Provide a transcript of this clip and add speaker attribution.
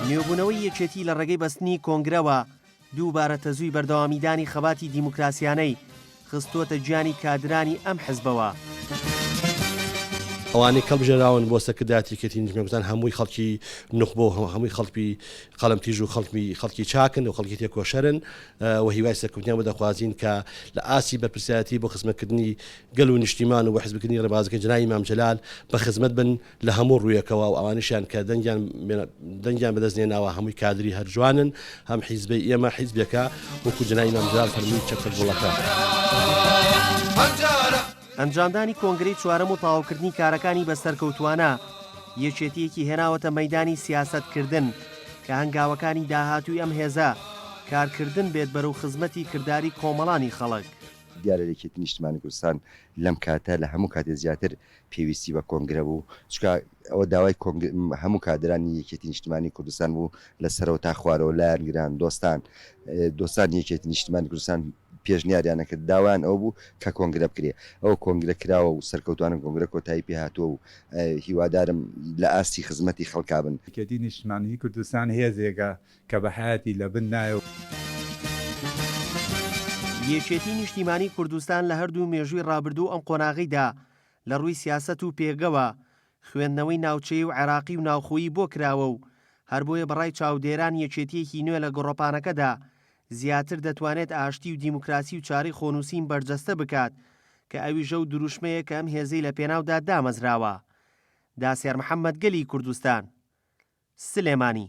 Speaker 1: نوێبوونەوەی یەکێتی لە ڕێگەی بەستنی کۆنگرەوە دووبارە تەزووی بەردەوامیدانی خەباتی دیموکراسیانەی خستووەتە گیانی کادرانی ئەم حزبەوە.
Speaker 2: ئەوانەی کەڵبژێراون بۆ سەرکردایەتی یەکێتی نیشتمانگوزان هەمووی خەڵکی نوخبە و هەمووی خەڵکی قەلەمتیژ و خەڵکی خەڵکی چاکن و خەڵکی تێکۆشەرن و هیوای سەرکەوتنیان بە دەخوازین کە لە ئاستی بەرپرسیارەتی بۆ خزمەتکردنی گەل و نیشتیمان و بە حزبکردنی ڕێبازەکەی جنابی مام جلال بە خزمەت بن لە هەموو ڕوویەکەوە و ئەوانیشیان کە دەنگیان دەنگیان بەدەست نێناوە هەمووی کادری هەرجوانن هەم حیزبی ئێمە حیزبێکە وەکو جنای نامدرار فەرمی چەپتە گوڵەکە.
Speaker 1: ئەنجامدانی کۆنگرەی چوارەم و تەواوکردنی کارەکانی بە سەرکەوتووانە یەکێتییەکی هێناوەتە مەیدانی سیاسەتکردن کە هەنگاوەکانی داهاتووی ئەم هێزە کارکردن بێت بەرەو خزمەتی کرداری کۆمەڵانی خەڵک. دیارە یەکێتی
Speaker 3: نیشتمانی کوردستان لەم کاتە لە هەموو کاتێ زیاتر پێویستی بە کۆنگرە بوو، چونکە ئەوە داوای کۆنگ هەموو کادرانی یەکێتی نیشتمانی کوردستان بوو لە سەرەوە تا خوارەوە، لایەنگران، دۆستان، دۆستانی یەکێتی نیشتمانی کوردستان پێشنیاریان ئەکرد، داوایان ئەوە بوو کە کۆنگرە بکرێ، ئەوە کۆنگرە کراوە و سەرکەوتووانە کۆنگرە کۆتایی پێ هاتووە و هیوادارم لە ئاستی خزمەتی خەڵکا بن. یەکێتی نیشتمانیی
Speaker 4: کوردستان هێزێکە کە بە حەیاتی لە بن نایە.
Speaker 1: یەکێتی نیشتیمانی کوردستان لە هەردوو مێژووی ڕابردوو و ئەم قۆناغیدا لە ڕووی سیاسەت و پێگەوە، خوێندنەوەی ناوچەیی و عێراقی و ناوخۆیی بۆ کراوە و هەر بۆیە بە ڕای چاودێران یەکێتییەکی نوێ لە گۆڕەپانەکەدا زیاتر دەتوانێت ئاشتی و دیموکراسی و چارەی خۆنووسین بەرجەستە بکات کە ئەویش ئەو دروشمەیە کە ئەم هێزەی لە پێناودا دامەزراوە. داسێر محەمەد گەلی کوردستان سلێمانی.